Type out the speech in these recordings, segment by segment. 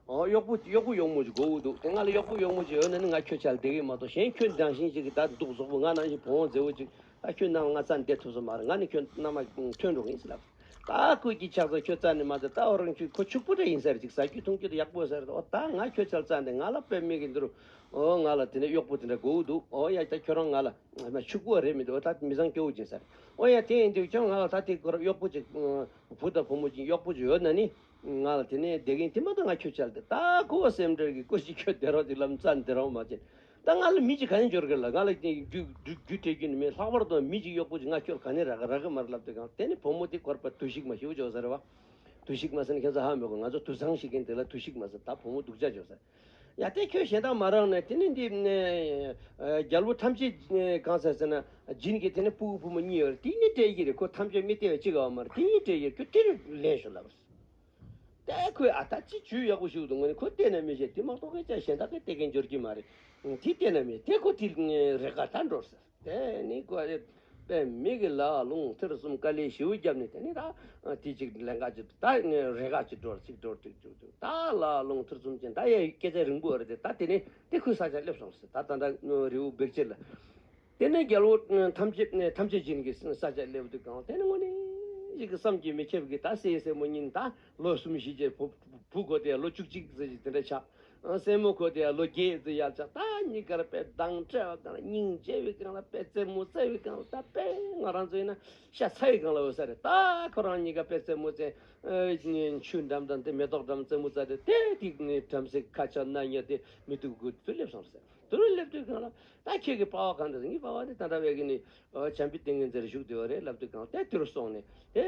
གཡོག་པོ་གཡོག་པོ་གཡོག་མོ་ཅིག་སྒོ་དབུགས་འདུག་དེ་སྔ་ལ་གཡོག་པོ་གཡོག་མོ་ཅིག་ཡོད་ན་ནི་ང་ཁྱོད་ཅག་ལ་བདེ་གི་མ་གཏོགས་གཞན་ཁྱོད་འདྲ་བཞིན་ཅིག་གི་ད་འདུག་ཟོག་པོ་ང་ནང་བཞིན་བུང་བ་མཛེས་བོ་ཅིག་ད་ཁྱོད་རྣམས་ལ་ང་རྩྭ་འདེབས་ཐུབ་ས་མ་རེད་ང་ནི་ཁྱོད་རྣམས་ལ་ཁྲོན་འགྲོ་གི་ཡིན་ཟེར་ལབ། ད་ཀུན་གྱིས་ཆགས་ཚང་ཁྱོད་རྩྭ་ནི་མ་འདེབས་ད་འོ་རང་ཁྱོད་ཁོ་ཕྱུག་པོ་འདྲ་ཡིན་ཟེར་ཅིག་ཟ་རྒྱུ་འཐུང་རྒྱུ་དེ་ཡག་པོ་ཟེར་འོ་ད་ང་ཁྱོད་ཅག་ལ་རྩྭ་འདི་ང་ལ་དཔེ་མེད་གི་འདུག་འོ་ང་ལ་དེ་འདྲ་གཡོག་པོ་དེ་འདྲ་སྒོ་དབུགས་འདུག་འོ་ཡ་ད་ཁྱོད་རང་ང་ལ་ཕྱུག་པོ་བ་རེད་མི་འདུག་འོ་ད་མི་བཟང་སྐྱོ་བོ་ཅིག་ཟེར་འོ་ཡ་དེ་ཡིན་དུས་ཀྱང་ང་ལ་ད་དེ་གོ་རོགས་གཡོག་པོ་ཅིག་བུ་དང་བུ་མོ་གྱི་གཡོག་པོ་བྱོས་ན་ནི། ང་ལ་དེ་ནས་བདེ་གིན་དེ་མ་ཐག་ང་ཁྱོད་ཅར་ཏེ་ད་ཁོ་བོ་སེམས་ཁྲལ་གྱིས་སྐུ་གཅིག་ཁྱོད་བསྡད་རོགས་ཅིག་ལམ་རྩ་འདི་རང་མ་བྱེད། ད་ང་ལ་མི་གཅིག་ག་ནས་འབྱོར་གི་ལ་ང་ལ་རྒྱུ་སྤྲད་རྒྱུ་ནི་མེད་ལྷག་པར་དུའང་མི་གཅིག་གཡོག་པོ་གཅིག་ང་ཁྱོད་ལ་ག་ནས་རག་གི་རག་གི་མར་ལབ་དེ་གང་དེ་ནི་བུ་མོ་དེ་འཁོར་པར་དུས་ཤིག་མ་ཤི་བོ་བྱོས་ཟེར་བ། དུས་ཤིག་མ་ཟེར་ན་ཁྱོད་ཚོ་ཧ་མོད་གི་ང་ཚོ་དུད་ཚང་ཞིག་གིན་དེ་ལ་དུས་ཤིག་མ་ཟེར་ད་བུ་མོ་སྡུག་ཅག་བྱོས་ཟེར། ཡ་སྟེ་ཁྱོད་གཞན་དག་མ་རངས་ནས་དེ་ནི་འདི། རྒྱལ་པོ་ཐམས་ཅད་གང་ཟེར་ཟེར་ན། སྦྱིན་གྱི་དེ་ནི་སྤུ་གུ་བུ་མོ་གཉིས་ཡོད་རེ་དེ་གཉིས་བྲལ་གྱི་རེ་ཁོ་ཐམས་ཅད་མི་སྟེར་བས་ཅི་དགའ་བ་མ་རེ་དེ་གཉིས་བྲལ་གྱི་ཁྱོད་དེར་ལེན་ཞུ་ལབ་པར་ཟེར། ཏྭ་ཁོས་ཨ་ཐ་ཅི་ཇུས་ཡག་པོ་ཞིག་འདུག་ང་ནི་ཁོ་གཏན་ནས་མི་བཞེད་དེ་མ་གཏོགས་ཁྱེད་ཅག་གཞན་དག་གིས་སྟེར་མཁན་འབྱོར་གྱི་མ་རེད། དེ་གཏན་ནས་མི་བྱེད་དེ་ཁོ་དེ་རེ་དགའ་ད་འགྲོར་ཟེར། དེ་ནི་དགོས་རེད། པའི་མི་གི་ལག་རླུང་ཐེར་གསུམ་དཀའ་ལས་བྱིའུ་རྒྱབ་ནས་དེ་ནི་ད་དེ་ཅིག་ལན་འགའ་ཅིག་ད་ངས་རེ་འགའ་ཅིག་འགྲོར་ཚིག་འགྲོར་ཐིག་ཅུག་ཅུག་ད་ལག་རླུང་ཐེར་གསུམ་ཅན་ད་ཡའི་སྐད་ཆ་རིང་པོ་རེད་དེ་ད་དེ་ནི་དེ་ཁོའི་ས་ཆར་སླེབས་སོང་ཟེར་ད་ད་འདྲ་རི་བོ་བེར་ཆེ་ལ། དེ་ནི་རྒྱལ་བོ་ཐམས་ཅད་ཐམས་ཅད་ཅན་གྱི་ས་ཆར་སླེབས་འདུག་གམ་དེ་ནི་དངོས་གནས་ཞིག་གི་བསམ་གྱིས་མི་ཁྱབ་གི་ད་སྲས་སྲས་མོ་གཉིས་ནི་ད་ལོ་གསུམ་བཞི་བརྒྱད་བུ་བུ་དགོ་དེ་ལོ་བཅུ་གཅིག་ཟེར་གྱི་དེ་འདྲ་ཆགས། སྲས་མོ་ཁོ་དེ་ཡང་ལོ་བརྒྱད་ཙི་ཡར་ཆགས་ད་གཉིས་ཀར་པད་གདང་སྤྲད་བ་གང་ལ་སྙིང་རྗེ་བའི་གང་ལ་པད་རྩེ་མོ་རྩེ་བའི་གང་ལ་ད་པད་ང་རང་ཚོ་ཡིན་ན་ཤ་ཚ་བའི་གང་ལ་འོས་ས་རེད་ད་ཁོ་རང་གཉིས་ཀ་པད་རྩེ་མོ་རྩེ་མཆུ་འགྲམ་དང་དེ་མེ་ཏོག་འགྲམ་རྩེ་མོ་རྩ་དེ་དེ་དེ་བྲམ་ཟེ་ཁ་ཆག་ནག་ཉེས་དེ་མི་སྡུག་གུ་དེ་སླེབས་སོང་ཟེར་དེ་རུ་སླེབས་དུས་གང་ལ་ད་ཁྱེད་ཀྱི་པ་བ་གང་འདྲ་ཟེར་ངའི་པ་བ་ནི་ད་འདྲ་བས་གི་ནི་བྱམས་པའི་ཏིང་ངེ་འཛིན་རེ་བཞུགས་དེ་བ་རེད་ལབ་དུས་གང་ལ་དེ་དེ་རུ་སོང་ནས་དེ་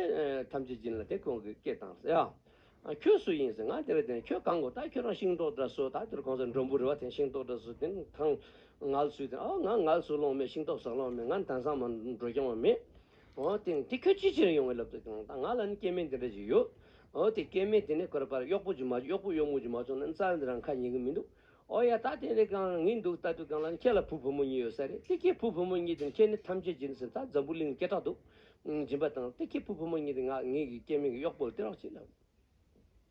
ཐམས་ཅད་སྦྱིན་ལ་དེ་ཁོང་གི་སྐད་བཏང་ཟེར་ཡ། ཁྱོད་སུ་ཡིན་ཟེར་ང་དེ་རེད་དེ་རེད་ཁྱོད་གང་གོ་ད་ཁྱོད་རང་ཤིང་ཏོག་འདྲ་སོ་ད་དེར་གོང་ས་མགྲོན་པོ་རེད་བ་དེ་ཤིང་ཏོག་འདྲ་སོ་དེ་གང་ངལ་སུས་དེ་ཨོ་ང་ངལ་སུ་ལོང་མེད་ཤིང་ཏོག་ཟག་ལོང་མེད་ང་དན་སང་མ་འགྲོ་རྐྱང་བ་མེད་ཨོ་དེ་དེ་ཁྱོད་ཅི་བྱེད་རིང་ཡོང་གི་ལབ་དུ་ད་ང་ལ་ནི་སྐྱེ་དམན་དེ་འདྲ་ཅིག་ཡོད་ཨོ་དེ་སྐྱེ་དམན་དེ་ནི་ཁོ་ར་པ་ར་གཡོག་པོ་ཅིག་མ་གཡོག་པོ་གཡོག་མོ་ཅིག་མ་བྱུང་ན་ནི་རྩ་བ་འདི་རང་ཁ་ཉན་གི་མི་འདུག་ཨོ་ཡ་ད་དེ་རེད་གང་ངེས་འདུག་ད་དུས་གང་ལ་ནི་ཁྱེད་ལ་བུ་བུ་མོ་གཉིས་ཡོད་ས་རེད་དེ་ཁྱེད་བུ་བུ་མོ་གཉིས་དེ་ནི་ཁྱེད་ནི་ཐམས་ཅད་ཀྱི་ནི་ཟེར་ད་འཛམ་བུ་གླིང་ནི་སྐད་གྲགས་འདུག་སྦྱིན་པ་དང་སྟེ་ཁྱི་ཕུ་བུ་མོ་གཉིས་ཏེ་ང་ངེད་ཀྱི་སྐྱེ་མིང་གི་གཡོག་པོ་དེ་རོགས་གཅིག་ལ།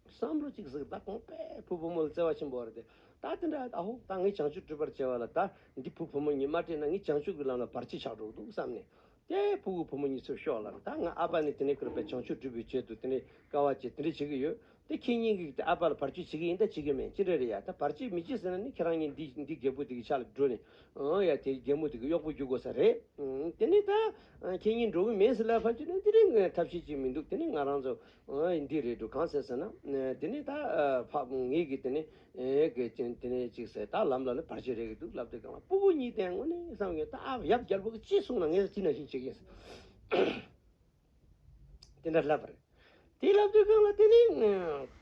བསམ་བློ་གཅིག་གཟིགས་ད་གོང་པས་ཕུ་བུ་མོ་ལ་བརྩེ་བ་ཆེན་པོ་བར་ཏེ་ད་དེ་འདྲ་ཨ་ཧོ་ད་ངས་བྱང་ཆུབ་སྤྲུལ་པར་བྱས་བ་ལ་ད་འདི་ཕུ་བུ་མོ་གཉིས་མ་སྤྲད་ན་ངས་བྱང་ཆུབ་ཀྱི་ལམ་ལ་བར་ཆད་ཆགས་འགྲོ་གི་འདུག་བསམས་ནས། དེ་ཕུ་བོ་བུ་མོ་གཉིས་ཚུར་ཤོག་ལར་ད་ང་ཨ་ཕ་ནི་དེ་ནས་ཁུར་པའི་བྱང་ཆུབ་སྤྲུལ་པའི་ཆེད་དུ་དེ་འདྲའི་དཀའ་བ་སྤྱད་དེ་འདྲ་བྱེད་ཀྱི་ཡོད། དེ་ཁྱེད་གཉིས་ཀྱིས་ཨ་ཕ་ལ་བར་གཅོད་བྱེད་ཀྱི་ཡིན་ད་བྱེད་ཀྱི་མེད་ཅི་འདྲ་རེད་ཡ་ད་བར་གཅོད་མི་བྱེད་ཟེར་ན་ནི་ཁྱེད་རང་གཉིས་འདི་འདི་རྒད་པོ་དེ་གི་ཕྱག་ལ་འགྲོ་ནས་ཨང་ཡ་དེ་རྒད་མོ་དེ་གི་གཡོག་པོ་རྒྱུག་དགོས་ས་རེད་དེ་ནི་ད་ཁྱེད་གཉིས་འགྲོ་གི་མེད་ཟེར་ལ་བར་གཅོད་ནི་འདི་རིང་གི་ཐབས་ཤེས་ཅིག་མི་འདུག་དེ་ནི་ང་རང་ཚོ་ཨང་འདི་རེད་འདུག་གང་ཟེར་ཟེར་ན་དེ་ནི་ད་ཕ་ངེད་ཀྱིས་དེ་ནི་གི་དེ་ནི་ཅིག་ཟེར་ད་ལམ་ལ་ནི་བར་གཅོད་རེད་ཀྱི་འདུག་ལབ་དེ་གང་ལ་སྤུ་བོ་གཉིས་དེ་ངོ་ནི་བསམ་གྱི་ད་ཨ་ཡབ་རྒྱལ་པོ་གི་ཅི་གསུང་ན་ངེད་ཚོ་དེ་ནང་བཞིན་བྱེད་ཀྱི་ཡིན། དེ་འདྲ་ལབ་པ་རེད། དེ་ལབ་དུས་གང་ལ་དེ་ནི།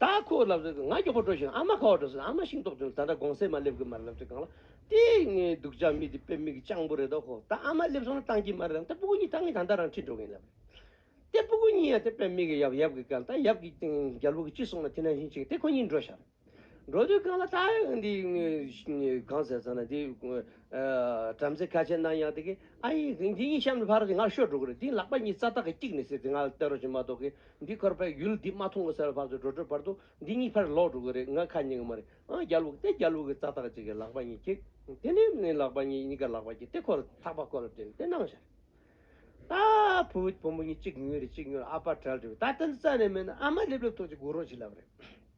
ད་ཁོ་ལབ་དུས་ང་མགྱོགས་པོ་འགྲོ་བཞིན་ཨ་མ་ཁ་བ་འགྲོ་ཟེར་ཨ་མ་ཤིང་ཏོག་དོན་ད་འདྲ་དགོང་ཟས་མ་སླེབས་གི་མ་རེད་ལབ་དུས་གང་ལ་དེ། ངའི་སྡུག་ཅག་མི་དེ་དཔེ་མིག་སྤྱང་པོ་རེད་དོ་ཧོ་ད་ཨ་མ་སླེབས་སོང་ན་བཏང་གི་མ་རེད་ཨང་ད་སྤུ་གུ་གཉིས་ད་ངས་ད་ལྟ་རང་འཁྲིད་འགྲོ་གིན་ལབ་རེད། དེ་སྤུ་གུ་གཉིས་ཡང་དེ་དཔེ་མིག་གི་ཡབ་ཡབ་གི་ག་ལ་ད་ཡབ་ཀྱི་རྒྱལ་པོ་གི་ཅི་གསུང་ན་དེ་ནང་བཞིན་བྱེད་དེ་ཁོ་གཉིས་འགྲོ་ཤག་རེད། འགྲོ་དུས་རྐང་ལ་ལྟ་ཡང་འདི་གང་ཟེར་ཟེར་ན་འདི་བྲམ་ཟེ་ཁ་ཆེ་གནང་ཡང་དེ་གི་ཨ་ཡེ་འདི་གཉིས་གཤམ་ནས་ཕར་རོ་ཞིག་ང་ཤོར་འགྲོ་གི་རེད་འདི་ལག་པ་གཉིས་རྩ་ཐག་གི་གཅིག་ནས་ཟེར་དེ་ང་ལ་བལྟ་རོ་ཞིག་མ་གཏོགས་གི་འདི་ཁར་བལ་ཡུལ་འདི་མ་མཐོང་གི་ཟེར་བ་བར་དུ་འགྲོ་འགྲོའི་བར་དུ་འདི་གཉིས་ཕར་ལོག་འགྲོ་གི་རེད་ང་ཁ་རྙེད་གི་མ་རེད་ཨང་རྒྱ་ལུག་སྟེ་རྒྱ་ལུག་གི་རྩ་ཐག་གཅིག་གི་ལག་པ་གཉིས་གཅིག་དེ་ནས་ནི་ལག་པ་གཉིས་གཉིས་ཀ་ལག་པ་གཅིག་སྟེ་ཁོ་ལ་ཐག་པ་ཁོ་ལ་བྲེལ་སྟེ་གནང་བཞག་ད་བུ་བུ་མོ་གཉིས་གཅིག་ཉོས་རེད་གཅིག་ཉོས་རེད་ཨ་ཕ་བྲལ་འགྲོ་གི་ད་ཏན་ཏན་རྩ་ནས་མེད་ན་ཨ་མ་སླེབས་སླེབས་ཐོག་ཅིག་སྒུག་རོགས་ཞིག་ལབ་རེད།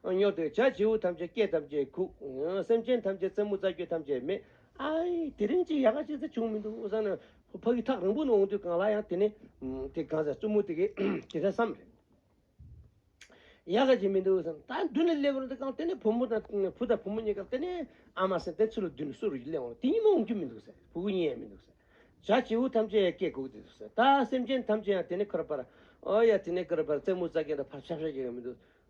སྙོག་དེ་བྱ་བྱེའུ་ཐམས་ཅད་སྐད་ཐམས་ཅད་ཁུག། སེམས་ཅན་ཐམས་ཅད་རྩེད་མོ་རྩ་རྒྱུད་ཐམས་ཅད་མེད། ཨའི། དེ་རིང་ཅིག་ཡག་ག་ཅིག་ཟེར་བྱུང་མི་འདུག་བསམ་ནས། ཕ་གི་ཐག་རིང་པོ་ནས་འོང་དུས་གང་ལ་ཡང་དེ་ནི། དེ་གང་ཟེར་རྩུབ་མོ་དེ་གས་དེ་འདྲ་བསམ། ཡག་ག་ཅིག་མི་འདུག་བསམ། ད་མདུན་ལ་སླེབས་རུང་དེ་གང་དེ་ནི་བུ་མོ་དང་བུ་དང་བུ་མོ་གཉིས་ཀ་དེ་ནི། ཨ་མ་སེམས་དེ་ཚུར་ལ་མདུན་ལ་གསོལ་རུ་ཡི་སླེབས་འོང་དེ་གཉིས་མ་འོང་རྒྱུ་མི་འདུག་ཟེར་བུ་གུ་གཉིས་ཡང་མི་འདུག་ཟེར། བྱ་བྱེའུ་ཐམས་ཅད་སྐད་ཁུག་དེ་འདུག་ཟེར། ད་སེམས་ཅན་ཐམས་ཅད་ཡང་དེ་ནི་ཁར་པར། ཨོ་ཡ་དེ་ནི་ཁར་པར་རྩེད་མོ་རྩ་རྒྱུད་འདྲ་ཕར་ཕྱག་ཕྱག་བྱེད་ཀྱི་མི་འདུག།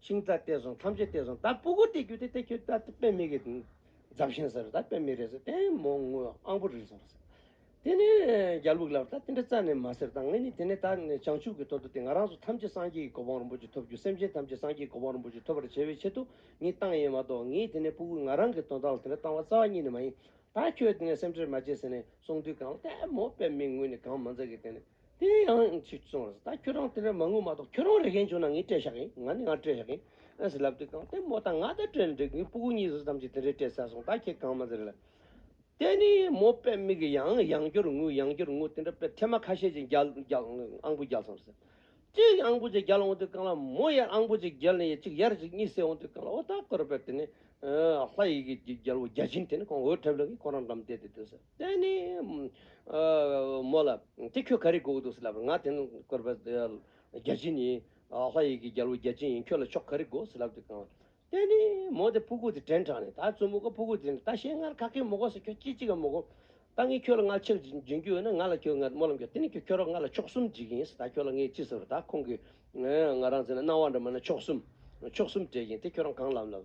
ཤིང་རྟ་བལྟས་སོང་ཐམས་ཅད་བལྟས་སོང་ད་སྤུ་གུ་བལྟས་རྒྱུ་དེ་བལྟས་ཁྱོད་ད་དཔེ་མེད་གི་རྫབ་བཞིན་ཟེར་ད་དཔེ་མེད་རེད་ཟེར་དེ་མོ་དངུལ་ཨང་པོ་རིག་སོང་དེ་ནས་རྒྱ་ལུག་ལབ་ད་དེ་འདྲ་རྩ་ནས་མ་ཟེར་ད་ངས་ནི་དེ་ནས་ད་བྱང་ཆུབ་ཀྱི་ཐོག་ཏུ་དེ་ང་རང་ཚོ་ཐམས་ཅད་སངས་རྒྱས་ཀྱི་གོ་འཕང་རིན་པོ་ཆེ་ཐོབ་རྒྱུ་སེམས་ཅན་ཐམས་ཅད་སངས་རྒྱས་ཀྱི་གོ་འཕང་རིན་པོ་ཆེ་ཐོབ་པར་བྱེད་པའི་ཆེད་དུ་ངས་བཏང་ཡིན་མ་གཏོགས་ངས་དེ་ནས་སྤུ་གུ་ང་རང་གི་དོན་དག་ལ་དེ་འདྲ་བཏང་བ་རྩ་བ་ཉིད་ནས་མ་ཡིན་ད་ཁྱོད་དེ་ནས་སེམས་ཁྲེལ་མ་བྱེད་ཟེར་ནས་གསུངས་དུས་གང་ལྟས་མོ་དཔེ་མེད་དངུལ་ནི་གང་མ་འཛག་གི་དེ་ནས། དེ་ཡང་ཡང་ཚིག་བཙོང་ར་ཟེར་ད་ཁྱོད་རང་དེ་འདྲ་མ་དངུལ་མ་གཏོགས་ཁྱོད་རང་རེ་འགན་བྱུང་ན་ངས་སྤྲད་ཤག་གིན་ང་ནི་ང་སྤྲད་ཤག་གིན་ཨེ་ཟེར་ལབ་དེ་གང་ལྟས་མོ་ད་ང་ད་སྤྲད་ནས་འགྲིག་ངའི་སྤུ་གུ་གཉིས་བཟོ་ཙམ་གྱིས་དེ་འདྲས་སྤྲད་ཚར་སོང་ད་ཁྱེད་གང་མ་ཟེར་ལབ་དེ་ནས་མོ་དཔེ་མིག་གིས་ཡང་ཡང་སྐྱོར་དངུལ་ཡང་སྐྱོར་དངུལ་དེ་འདྲ་དཔེ་ཐེངས་མ་ཁ་ཤས་ཀྱིས་རྒྱལ་རྒྱལ་ཨང་བུ་རྒྱལ་སོང་ཟེར་གཅིག་ཨང་བུ་ཅིག་རྒྱལ་འོང་དུས་གང་ལ་མོ་ཡར་ཨང་བུ་ཅིག་རྒྱལ་ནས་ཡར་གཅིག་ཡར་གཅིག་གཉིས་བསད་འོང་དུས་གང་ལ་འོ་ད་ཁོ་ར་དཔེ་དེ་ནས་ཨ་ལྷ་ཡི་གེ་རྒྱལ་བོ་བརྒྱ་བྱིན་དེ་ནས་ཁོང་འོད་འཁྲབ་ལ་གིན་ཁོ་རང་འགྲམ་བསྡད་དེ་སྡོད་ཟེར། དེ་ནས། མོ་ལ། དེ་ཁྱོད་ག་རེ་དགོས་འདུག་ཟེར་ལབ་པར་ང་དེ་ནི་སྐོར་བ། རྒྱལ་ཆེན་ཡིན། ལྷ་ཡི་གི་རྒྱལ་བོ་རྒྱལ་ཆེན་ཡིན་ཁྱོད་ལ་ཆོག་ག་རེ་དགོས་ཟེར་ལབ་དེ་གང། དེ་ནས། མོ་དེ་ཕུ་གུ་དེ་དྲན་དྲགས་ནས་ད་བཙུན་མོ་ག་ཕུ་གུ་དེ་ནི་ད་བཤད་སྔར་ག་གེ་མོ་གོ་ཟེར་ཁྱོད་ཅི་ཅི་ག་མོ་གོ། ད་ངས་ཁྱོད་ལ་ང་ཕྱིར་འབྱིན་རྒྱུ་ཡོད་ན་ང་ལ་ཁྱོད་ང་མོ་ལ་འགྱོད་དེ་ནས་ཁྱོད་ཁྱོད་རོགས་ང་ལ་ཕྱོགས་གསུམ་འཇིག་གི་ཡིན་ཟེར་ད་ཁྱོད་ལ་ངས་ཅི་ཟེར་བ་ད་ཁོང་གིས། ང་རང་ཟེར་ན་སྣང་བ་འདྲ་མ་ན་ཕྱོགས་གསུམ། ཕྱོགས་གསུམ་བྲལ་གྱིན་དེ་ཁྱོད་རང་གང་ལབ་ལབ།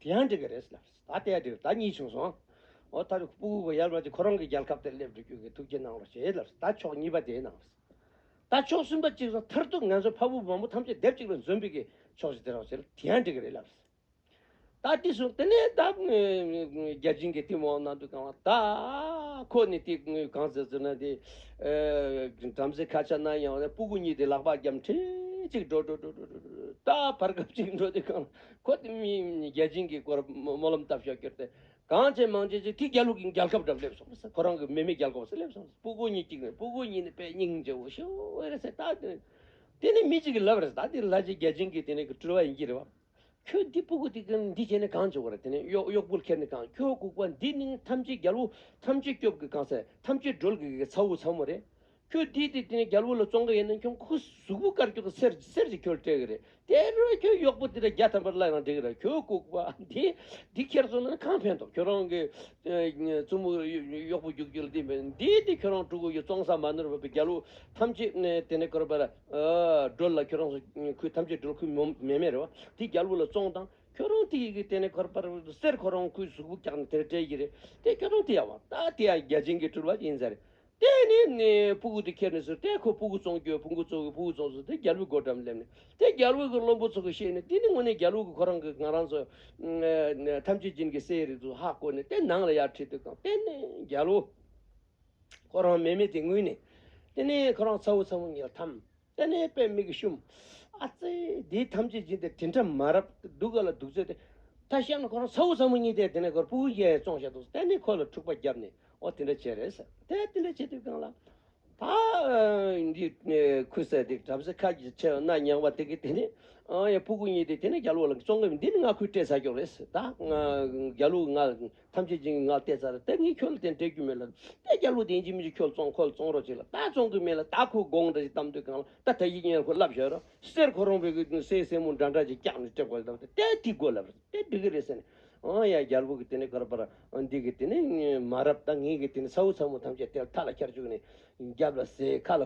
དེ་ཡང་འགྲིག་གི་རེད་ཟེར། ད་ལྟའི་བར་དེ་ད་གཉིས་བྱུང་སོང། འོ་ད་རེ་སྤུ་གུ་ཡར་མར་གྱིས་ཁོ་རང་གི་རྒྱལ་ཁབ་དེར་སླེབས་འགྲོ་རྒྱུ་གི་ཐུགས་བསྐྱེད་གནང་རོགས་བྱེད་ཟེར། ད་ཕྱོགས་གཉིས་པ་དེའི་ནང། ད་ཕྱོགས་གསུམ་པ་གཅིག་ཟེར་མཐར་གཏུགས་ང་ཚོའི་ཕ་བུ་འབངས་བུ་ཐམས་ཅད་སྡེབ་གཅིག་ལ་འཛོམས་པའི་གི་ཕྱོགས་ཞིག་དེ་རོགས་ཟེར། དེ་ཡང་འགྲིག་གི་རེད་ལབ། ད་དེ་སོང་དེ་ནས་ད་རྒྱལ་ཆེན་གྱི་གཏིང་འོག་ན་འདུག་གམ། ད་ཁོ་ནི་དེ་གང་ཟེར་ཟེར་ན་དེ། བྲམ་ཟེ་ཁ་ཆ་ན་ཡང་སྤུ་གུ་གཉིས་དེ་ལག་པ་རྒྱབ་འཕྲེད་ཅིག་འགྲོ་འགྲོ་འགྲོ་འགྲོ་འགྲོ་འགྲོ། ད་བར་སྐབས་གཅིག་འགྲོ་དེ་གང། ཁོ་དེ་མིན་རྒྱལ་ཆེན་གྱི་སྐོར་སྨོན་ལམ་བཏབ་ཞོག་ཀྱོར་ཏེ། གངས་ཅན་མང་ཆེན་ཅིག་གིས་རྒྱ་ལུགས་ཀྱི་མཇལ་ཁབ་འགྲམ་སླེབས་སོང་བས་ཁོ་རང་གི་མེ་མེ་རྒྱལ་སྒོ་ཟེར་སླེབས་སོང་བས་སྤུ་གུ་གཉིས་གཅིག་ནས་སྤུ་གུ་གཉིས་ནི་པད་སྙིང་རྗེ་བོ་ཤི་བོ་རེད་ཟེར་ད་དེ་དེ་ནི་མི་གཅིག་གི་ལབ་རེད་ད་དེ་ལྷ་རྗེ་རྒྱལ་ཆེན་གྱིས་དེ་ནི་སྤྲུལ་བ་ཡིན་གྱི་རེད་བ། ཁྱོད་འདི་སྤུ་གུ་འདི་གི་འདི་བྱས་ནས་གང་བྱེད་དགོས་རེད་དེ་ནི་གཡོག་གཡོག་པོ་ཁྱེར་ནས་གང་ཁྱོད་ལྐུགས་པ་འདི་ནི་ཐམས་ཅད་རྒྱལ་པོ་ཐམས་ཅད་སྐྱོབ་གི་གང་ཟེར་ཐམས་ཅད་སྒྲོལ་གི་གི་ཚ་བོ་ཚ་མོ་རེད་ཁྱོད་དེ་དེ་དེ་ནས་རྒྱལ་པོ་ལ་བཙོང་གི་ཡིན་ན་ཁྱོད་ཁོ་གཟུགས་པོ་དཀར་ཁྱོད་ཀྱི་སེར་སེར་གྱིས་ཁྱོད་སྤྲད་གི་རེད་དེ་ལོས་ན་ཁྱོད་གཡོག་པོ་དེ་དང་རྒྱ་དམ་པར་གླགས་ན་འགྲིག་ར་ཁྱོད་ལྐུགས་པ་དེ་འདི་ཁྱེར་སོང་ན་གང་ཕན་ཐོག་ཁྱོད་རང་གི་བཙུན་མོ་གཡོག་པོ་རྒྱུག་རྒྱུ་ལ་དེ་འདི་དེ་ཁྱོད་རང་ཕྲུ་གུ་ཡོད་བཙོང་ས་མ་ནོར་བ་པོ་རྒྱལ་པོ་ཐམས་ཅད་དེ་ནས་ཁོ་ར་པ་ར་སྒྲོལ་ལ་ཁྱོད་རང་ཚོ་ཁུལ་ཐམས་ཅད་སྒྲོལ་ཁུལ་མོ་མེ་མེ་རེད་བ་དེ་རྒྱལ་པོ་ལ་བཙོང་དང་ཁྱོད་རང་དེ་གི་དེ་ནས་ཁོ་ར་པ་ར་སེར་ཁོ་རང་ཁོའི་གཟུགས་པོ་བཀྱག་ན་དེ་ར་སྤྲད་གི་རེད་དེ་ཁྱོད་རང་དེ་ཡ་བ་ད་དེ་ཡ་རྒྱ་ཅན་གྱི་སྤྲུལ་བ་ཡིན་ས་རེད། དེ་ནས་ནས་སྤུ་གུ་དེ་ཁྱེར་ནས་སུ་ཏའི་ཁུ་སྤུ་གུ་རྫོང་བརྒྱུད་སྤུ་གུ་ཚོགས་ཀྱི་སྤུ་གུ་རྫོང་སུ་ཏའི་རྒྱལ་བུའི་སྒོ་འགྲམ་སླེབས་ནས་དེ་རྒྱལ་བུ་གི་བློན་པོ་ཚོ་གི་ཤེས་ནས་དེ་ནི་དངོས་གནས་རྒྱལ་བུ་གི་ཁོ་རང་གི་ང་རང་ཚོ་ཐམས་ཅད་སྦྱིན་གི་སའི་རི་ཚོ་ཧ་བསྐོར་ནས་དེ་ནང་ལ་ཡར་ཁྲིད་དུ་བཏང་དེ་ནས་རྒྱལ་བུ་ཁོ་རང་མེད་མེད་དེ་ངུས་ནས་དེ་ནས་ཁོ་རང་ཚ་བོ་ཚ་བོ་ངས་ཐམས། ཏེ་ནས་པའི་མིག་གིས་བཤུམ། ཨ་ཙི། དེའི་ཐམས་ཅད་སྦྱིན་ཏེ་དྲིན་ཕྲ་མ་རབ་གདུག་ག་ལ་འདུག་ཚོད་དེ། ད་ཤ་ནི་ཁོ་རང་ཚ་བོ་ཚ་མོ་གཉིས་དེ་དེ་ནས་ཁོར་པུ་གུ་རྒྱལ་ཡས་བཙོང་བཞག་འདུག་ཏེ་ནས་ཁོ་ལ་འཁྲུག་པ་བརྒྱབ་ནས་ཨོ་དེ་འདྲ་བྱས་རེད་ཟེར། དེ་དེ་འདྲ་བྱས་དུས་གང་ལ། ད། འདི། ཁུ་སེར་དེ་གྲབ་ཟེར་ཁ་གྱིས་ཆེ་རྣ་ཉག་མ་དེ་གིས་དེ་ནས། ཨ་ཡ་པུ་གུ་གཉིས་དེ་དེ་ནས་རྒྱ་ལུག་ལ་བཙོང་གི་མི་འདི་ནི་ང་ཁོའི་སྤྲད་ཚར་ཀྱོག་རེད་ཟེར། ད། རྒྱ་ལུག་ང། ཐམས་ཅད་སྦྱིན་གྱི་ངག་བལྟས་ཚར་དེབ་གཉིས་ཁྱོད་ལ་དེ་འབྲེལ་རྒྱུ་མེད་ལ། ད་རྒྱ་ལོ་དེ་འཇིག་མི་འཇིག་ཁྱོད་བཙོང་ཁོ་ལ་བཙོང་རོགས་གཅིག་ལ་ད་བཙོང་གི་མེད་ལ་ད་ཁོའི་དགོངས་འགྲེལ་གྱི་གཏམ་དོན་གང་ལ་ད་ད་ཡིག་བརྙན་ཁོ་ལབ་བཞག་རོགས་ཟེར་ཁོ་རང་བོད་ཀྱི་དུང་སེའི་སྲས་མོ་འདྲ་འདྲ་ཅིག་སྐྱག་ནས་སྤྲད་དགོས་ཟེར་བ་དེ་དེའི་དགོས་ལབ་རོགས་དེ་འགྲིག་གི་རེད་ཟེར་ནས། ཨང་ཡ་རྒྱལ་པོ་གི་དེ་ནས་ཀར་པར་འདི་གི་དེ་ནས་མ་རབས་ད་ངེད་ཀྱི་དེ་ནས་ཚ་བོ་ཚ་མོ་ཐམས་ཅད་དེ་ལ་ཐག་ལ་འཁྱར་བཅུག་ནས། རྒྱབ་ལ་ཟས་ཁ་ལ་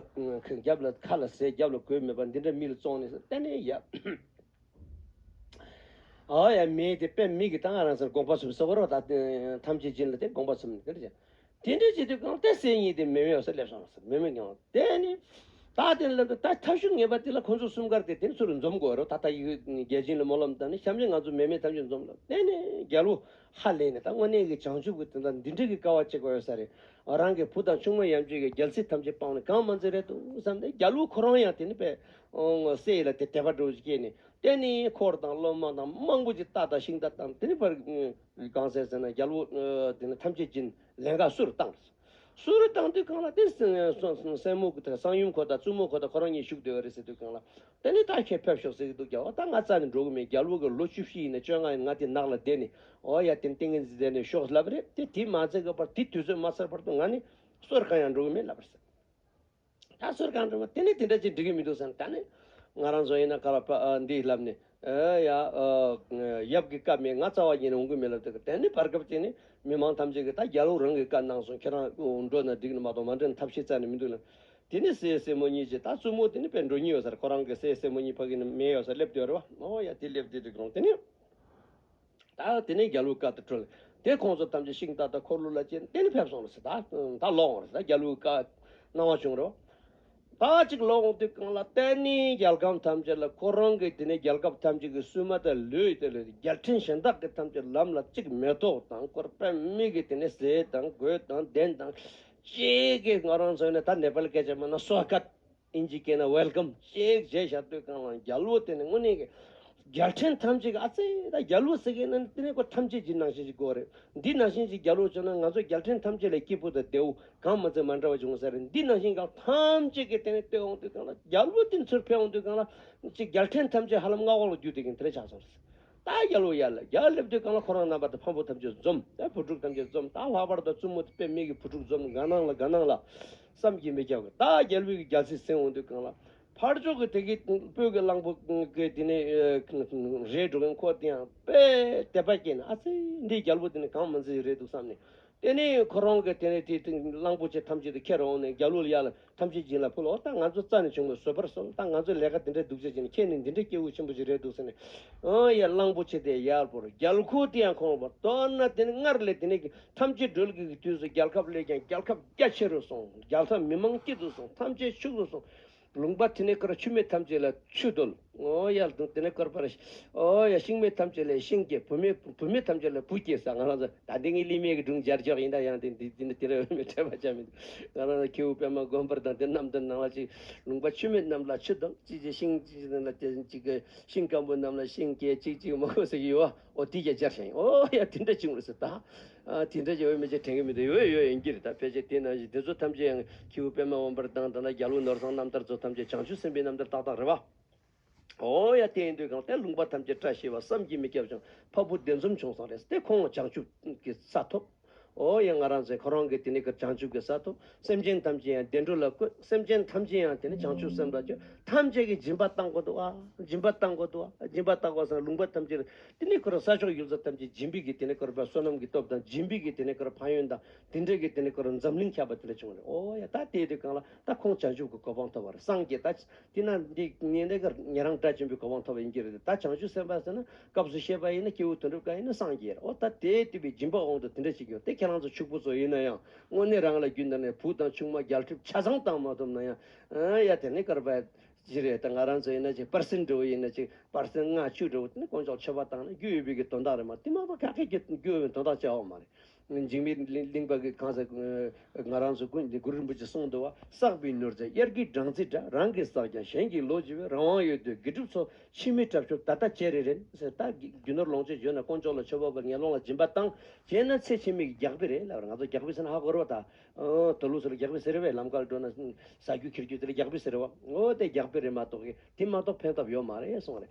རྒྱབ་ལ་ཁ་ལ་ཟས་རྒྱབ་ལ་གོས་མེད་པར་འདི་འདྲ་མི་ལ་བཙོང་ནས་ཟེར་གཏན་ནས་ཡ། ཨཱ་ཡ་མེ་དེ་པད་མིག་གི་སྟ་ག་རང་སར་དགོངས་པ་གསུམ་གསོལ་བ་རོ་དག་ཐམས་ཅད་སྦྱིན་ལ་དེ་དགོངས་པ་གསུམ་ནི་དེ་འདྲ་བྱ། དེ་འདྲའི་བྱེད་དུ་གང་གཏད་སའི་ཉིད་དེ་མེ་མེ་བ་སར་སླེབས་སོང་ཟེར་མེ་མེ་ཀྱང་དེ་ནི། ད་དེ་ལ་ལབ་ཏུ་ད་ཐབས་ཞུགས་ངེས་པ་དེ་ལ་ཁོ་ཚོ་གསུམ་གར་དེ་དེ་ཚུར་འཛོམས་དགོས་རོ་ད་ད་ཡིག་རྒྱལ་སྦྱིན་ལ་མོ་ལམ་དང་ནི་བཤམས་ནས་ང་ཚོ་མེ་མེ་ཐམས་ཅད་འཛོམས་ལ་དེ་ནི་རྒྱལ་བོ་ཧ་ལས་ནས་ད་དངོས་གནས་ཀྱི་བྱང་ཆུབ་ཀྱི་དོན་དང་འདི་འདྲ་གི་དཀའ་བ་གཅིག་པ་ཡོད་ས་རེད་རང་གི་བུ་དང་ཆུང་མ་ཡམ་ཆོས་ཀྱི་རྒྱལ་སྲིད་ཐམས་ཅད་སྤངས་ནས་གང་མ་འཛིན་རེད་དོ་བསམ་ནས་རྒྱལ་བོ་ཁོ་རང་ཡང་དེ་ནི་པད་ངོ་སེ་ཡིས་ལ་དེ་དད་པ་སྒྲོག་ཅིག་ཅེས་ནས་བསྟན་ནས་འཁོར་དང་སློབ་མ་དང་དམངས་པོ་ཅི་ལྟ་དང་ཤིང་རྟ་དང་དེའི་བར་གང་ཟེར་ཟེར་ན་རྒྱལ་པོ་དེ་ནི་ཐམས་ཅད་ཀྱིས་ལན་འགའ་སུ་རུ་བཏང། སུ་རུ་བཏང་དུས་གང་ལ་དེ་སྲིན་མོ་དང་གསང་ཡུམ་ཁོ་དང་བཙུན་མོ་ཁོ་དང་ཁོ་རང་གཉིས་བཞུགས་སྡོད་ཀྱི་རེད་ཟེར་དུས་གང་ལ་དེ་ནི་ད་ཁྱོད་ཕེབས་ཤོག་ཟེར་གྱི་འདུག་རྒྱལ་བོ་ད་ང་རྩ་ནས་འགྲོ་གི་མེད་རྒྱལ་པོ་གིས་ལོ་བཅུ་བཞི་ཡིན་ནས་བཅོ་ལྔ་ཡིན་ང་དེ་ནགས་ལ་བསྡད་ནས་འོ་ཡ་དེ་ཏིང་ངེ་འཛིན་བསྡད་ནས་ཤོག་ལབ་རེད་དེ་དེ་མ་མཛད་ཀྱི་བར་དེ་དུས་ཚོད་མ་ཚར་བར་དུ་ང་ནི་སུ་རུ་གང་ཡང་འགྲོ་གི་མེད་ལབ་རེད་ཟེར། ད་གསོལ་གང་འགྲོ་བ་དེ་ནས་དེ་འདྲ་ཅིག་འགྲིག་གི་མི་འདུག་བསམ་ད་ནི། ང་རང་བཟོ་ཡིན་ན་ག་ལ་པ་འདིས་ལབ་ནས། ཡ། ཡབ་ཀྱི་བཀའ་མེད་ང་རྩ་བ་ཉིད་ནས་འོང་གི་མེད་ལབ་ཏེ་ད་ནི་བར་སྐབས་དེ་ནི་མི་དམངས་ཐམས་ཅད་ཀྱིས་ད་རྒྱ་ལོ་རང་གི་བཀའ་གནང་སོང་ཁྱེད་རང་འགྲོ་ན་འགྲིག་ནི་མ་གཏོགས་མ་འགྲིག་ན་ཐབས་ཤེས་རྩ་ནས་མི་འདུག་ལ། དེ་ནི་སྲས་སྲས་མོ་གཉིས་ཀྱིས་ད་བཙུན་མོ་དེ་ནི་བས་འགྲོ་ཉེན་ཡོད་སར་ཁོ་རང་གི་སྲས་སྲས་མོ་གཉིས་ཕ་གི་ནི་མེ་ཡོད་སར་སླེབས་དུས་རེད་བ། ཨོ་ཡ་དེ་སླེབས་དུས་འགྲིག་རུང་དེ་ནི། ད་དེ་ནས་རྒྱ་ལུགས་བཀའ་ལྟར་བཀྲོལ། དེ་ཁོང་ཚོ་ཐམས་ཅད་ཤིང་རྟ་དང་འཁོར་ལོ་ལ་བཅས་ནས་གཏན་ཕེབས་སོང་རེད་ཟེར། ད་ད་ལོག་འོང་རེད་ཟེར། རྒྱ་ལུགས་བཀའ་གནང་བ་བྱུང་རེད། ད་ཅིག་ལོག་འོང་དུས་གང་ལ་བལྟས་ནས་རྒྱལ་ཁམས་ཐམས་ཅད་ལ་ཁོ་རང་གིས་དེ་ནས་རྒྱལ་ཁབ་ཐམས་ཅད་ཀྱི་སུན་མ་དང་ལུས་དེ་ལས་རྒྱལ་ཕྲན་གཞན་དག་གི་ཐམས་ཅད་ལམ་ལ་གཅིག་མེ་ཏོག་དང་སྐོར་པད་མིག་གིས་དེ་ནས་ཟས་དང་གོས་དང་གདན་དང་བཅས་ཀྱིས་ང་རང་ཚོ་ནས་ད་ནེ་པལ་སྐད་ཆ་སྨྲས་ན་སོ་སྐད། ཨིན་ཇི་སྐད་ན Welcome ཞེས་གཞས་བཞག་སྟོད་རྐང་ལ་རྒྱ་ལུའོ་དེ་ནི་དངོས་གནས་རྒྱལ་ཕྲན་ཐམས་ཅད་ཀྱི་ཨ་ཙེ་ད་རྒྱ་ལུའོ་ཟེར་མཁན་ནི་དེ་ནི་ཁོ་ཐམས་ཅད་ཀྱི་ནང་བཞིན་གྱི་གོ་རེད་འདི་ནང་བཞིན་གྱི་རྒྱ་ལུའོ་བྱུང་ན་ང་ཚོ་རྒྱལ་ཕྲན་ཐམས་ཅད་ལས་སྐྱིད་པོ་དང་བདེའུ་གང་མི་འཛིན་མ་འདྲ་བ་བྱུང་ས་རེད་འདི་ནང་བཞིན་གྱི་ཐམས་ཅད་ཀྱི་དེ་ནི་སྟོད་འོང་སྟོད་རྐང་ལ་རྒྱ་ལུའོ་དེ་ནི་ཚུར་ཕེབས་འོང་ཚུར་རྐང་ལ་ཅིག་རྒྱལ་ཕྲན་ཐམས་ཅད་ཧ་ལམ་མངའ་འོག་ལ་རྒྱུ་དེ་གིན་དེ་ལས་ཆགས་སོང་རེད་ད་རྒྱ་ལུའོ་ཡར་ལ་རྒྱ་སླེབས་སྟོད་རྐང་ལ་ཁོ་རང་རྣམ་པ་དང་ཕམ་པོ་ཐམས་ཅད་འཛོམས་ད་བུ་ཕྲུག་ཐམས་ཅད་འཛོམས་ད་ལྷག་པར་དུ་བཙུན་མོ་དང་པད་མིག་གི་བུ་ཕྲུག་འཛོམས་དགའ་སྣང་ལ་དགའ་སྣང་ལ། བསམ་གྱིས་མི་ཁྱབ། ད་རྒྱལ་བོས་རྒྱལ་སྲིད་བསྲིང་འོང་དུས་གང་ལ། ཕར་ཕྱོགས་ཀྱི་དེ་གའི་སྤོས་ཀྱི་གླང་པོ་ཀྱི་དེ་ནས་རེད་འགྲོ་མཁན་ཁོ་དེ་ཡང་དཔེ་དད་པ་སྐྱེས་ནས་ཨ་ཙི་འདིའི་རྒྱལ་པོ་དེ་ནི་གང་མི་འཛིན་རེད་འདུག་བསམ་ནས། དེ་ནས་ཁོ་རང་གི་དེ་ནས་དེ་གླང་པོ་ཆེ་ཐམས་ཅད་དུ་ཁྱེར་འོང་ནས་རྒྱལ་བློ་ལ་ཡར་ལ་ཐམས་ཅད་སྦྱིན་ལ་ཕུལ་ལོ་ད་ང་ཚོ་རྩ་ནས་བྱུང་བའི་བཟོད་པར་གསོལ་ད་ང་ཚོས་ལས་ཀ་དེ་འདྲ་སྡུག་ཅག་བྱས་ནས་ཁྱེད་ནི་འདི་འདྲའི་སྐྱེ་བོ་ཆེན་པོ་ཞིག་རེད་འདུག་ཟེར་ནས། ཡར་གླང་པོ་ཆེ་དེ་ཡར་བོར་རྒྱལ་ཁོ་དེ་ཡང་ཁོང་ལ་བོར་མདོར་ན་དེ་ནི་སྔར་ལས་དེ་ནས་ཐམས་ཅད་སྒྲོལ་དགོས་ཀྱི་དུས་སུ་རྒྱལ་ཁབ་ལས་ཀྱང་རྒྱལ་ཁབ་རྒྱ་ཆེ་རུ་སོང་རྒྱལ་ས་མི་མང་སྐྱིད་དུ་སོང་ཐམས་ཅད་ཕྱུག་རུ་སོང། ལུང་པ་དེ་ནས་ཀར་ཆུ་མེད་ཐམས་ཅད་ལ་ཆུ་རྡོལ། ཨོ་ཡ་ལུང་དེ་ནས་ཀར་པར། ཨོ་ཡ་ཤིང་མེད་ཐམས་ཅད་ལ་ཤིང་སྐྱེ་བུ་མེད་བུ་མེད་ཐམས་ཅད་ལ་བུ་སྐྱེ་ས་ང་རང་ཚོ་ད་འདི་ངའི་གླིང་མེད་ཀྱི་སྒྲུང་སྦྱར་ཆོག་ཡིན་ད་ཡང་དེ་འདི་ནས་དེ་རུ་འོས་མེད་འཕྲད་པ་ཆགས་མི་འདུག་ང་རང་ཚོ་ཁྱེའུ་པད་མ་མགོན་པོར་དང་དེ་རྣམས་དང་ནང་ལ་ཅིག་ལུང་པ་ཆུ་མེད་རྣམས་ལ་ཆུ་རྡོལ་ཅིག་ཅིག་ཤིང་ཅིག་ཅིག་རྣམས་ལ་ཅིག་ཅིག་ཤིང་སྐམ་པོ་རྣམས་ལ་ཤིང་སྐྱེ་ཅིག་ཅིག་མ་གོ་ཟེར་གྱི་ཡོད། ཨོ་དེ་ཀྱང་སྦྱར་བྱ་ཡིན། ཨོ་ཡ་དེ་འདྲ་བྱུང་བ་རེད་ཟེར། ད་དེ་འདྲ་བྱུང་བས་མི་ཆ་དྲན་གི་མི་འདུག་ཡོད་ཡོད་ཡོད་ཡིན་གྱི་རེད་ད་ཕལ་ཆེར་དེ་ནང་བཞིན་དེ་ཚོ་ཐམས་ཅད་ཡང་ཁྱེའུ་པད་མ་དབང་བར་དང་དང་ན་རྒྱ་ལུགས་ནོར་བཟང་རྣམ་ཐར་ཚོ་ཐམས་ཅད་བྱང་ཆུབ་སེམས་དཔའི་རྣམ་ཐར་ཏག་ཏག་རེད་བ། ཨོ་ཡ་དེ་ཡིན་དུས་གང་ལྟས་ལུང་པ་ཐམས་ཅད་བཀྲ་ཤིས་བ་བསམ་གྱིས་མི་ཁྱབ་ཅིང་ཕ་བུ་བདེ་འཛོམས་བྱུང་སོང་རེད་ཟེར་དེ་ཁོང་ཅང་ཆུབ་ཀྱི་ས་ཐོབ། ཨོ་ཡ་ང་རང་ཚོས་ཁོ་རང་གི་དེ་ནས་ཀྱི་བྱང་ཆུབ་ཀྱི་སར་ཐོབ་སེམས་ཅན་ཐམས་ཅད་ཡང་བདེ་འགྲོ་ལ་བཀོད་སེམས་ཅན་ཐམས་ཅད་ཡང་དེ་ནས་བྱང་ཆུབ་སེམས་ལ་སྤྱོད་ཐམས་ཅད་ཀྱི་སྦྱིན་པ་བཏང་གོ་འདུག་ཨ་སྦྱིན་པ་བཏང་གོ་འདུག་ཨ་སྦྱིན་པ་བཏང་གོ་ས་ལུང་པ་ཐམས་ཅད་ལ་དེ་ནས་ཁོ་རང་ས་ཕྱོགས་ཡུལ་ས་ཐམས་ཅད་སྦྱིན་པས་ཀྱི་དེ་ནས་ཁོ་རང་པ་བསོད་ནམས་ཀྱི་སྟོབས་དང་སྦྱིན་པས་ཀྱི་དེ་ནས་ཁོ་རང་ཕ་ཡོན་དང་དེ་འདྲས་ཀྱི་དེ་ནས་ཁོ་རང་འཛམ་གླིང་ཁྱབ་པ་དེ་འདྲ་བྱུང་བ་རེད་ཨོ་ཡ་ད་དེའི་དུས་གང་ལ་ད་ཁོང་བྱང་ཆུབ་ཀྱི་གོ་འཕང་ཐོབ་པ་རེད་སངས་རྒྱས་ད་དེ་ན་འདི་ངེད་འདི་གར་ངེད་རང་སྒྲ་ཆེན་པོའི་གོ་འཕང་ཐོབ་པ་ཡིན་གྱི་རེད་དེ་ད་བྱང་ཆུབ་སེམས་དཔའ་ཟེར་ན་སྐབས་སུ་བཤད་པ་ཡིན་ན་སྐྱེས་བུ་དོན་གྲུབ་དཀར་ཡིན་ན་སངས་རྒྱས་འོ་ད་དེའི་བསྟུན་པའི་སྦྱིན་པ་འོང་དུ་དེ་འདྲ་ཞིག་ཡོང་སྟེ་ཁྱེད་རང་ཚོ་ཕྱུག་པོ་ཚོ་ཡིན་ན་ཡང་དངོས་གནས་རང་ལ་རྒྱུ་འདི་ནས་བུ་དང་ཆུང་མ་རྒྱལ་ཁྲིབ་ཆ་ཚང་བཏང་མ་ཐུབ་ན་ཡང་ཡ་དེ་ནི་སྐར་པ་བཞི་རེད་ད་ང་རང་ཚོ་ཡིན་ན་ཅིག་པར་སེར་འབྲི་བོ་ཡིན་ན་ཅིག་པར་སེར་ལྔ་བཅུ་འབྲི་བོ་དེ་ནི་དཀོན་མཆོག་མཆོད་པ་བཏང་ན་རྒྱུ་ཡོད་པའི་གི་དོན་དག་རེད་མ་དེ་མ་པ་ག་གེ་གི་རྒྱུ་ཡོད་པའི་དོན་དག་བྱ་བ་མ་རེད། འཇིགས་མེད་གླིང་པ་གི་གང་ཟག་ང་རང་ཚོ་ཀུན་གུ་རུ་རིན་པོ་ཆེ་གསུང་དུ་བ་བསགས་པའི་མྱུར་ཚད་དབྱར་གྱི་སྦྲང་རྩི་འདྲ་རང་གིས་བསགས་ཀྱང་གཞན་གྱིས་ལོ་བགྱི་བའི་རང་དབང་ཡོད་དུས་དགེ་སྒྲུབ་ཚོ་ཕྱི་མི་དྲག་ཤོས་ད་ལྟ་བྱེད་རེ་རན་ཟེར་ད་རྒྱུ་ནོར་ལོངས་སྤྱོད་འཇོན་ན་དཀོན་མཆོག་ལ་མཆོད་པ་བར་ངན་སློང་ལ་སྦྱིན་པ་བཏང་བྱས་ན་ཚེ་ཕྱི་མིག་གི་རྒྱགས་པི་རེད་ལབ་ང་ཚོ་རྒྱགས་པི་ཟེར་ན་ཧ་གོ་རོ་ད་དོ་ལུགས་སུ་ལ་རྒྱགས་པི་ཟེར་བས་ལམ་ཁར་འགྲོ་ན་ཟ་རྒྱུ་ཁྱེར་རྒྱུ་དེ་ལ་རྒྱགས་པི་ཟེར་བ་འོ་དེ་རྒྱགས་པི་རེད་མ་གཏོགས་གི་དེ་མ་གཏོགས་ཕན་ཐོབ་ཡོད་མ་རེད་གསུང་བ་རེད།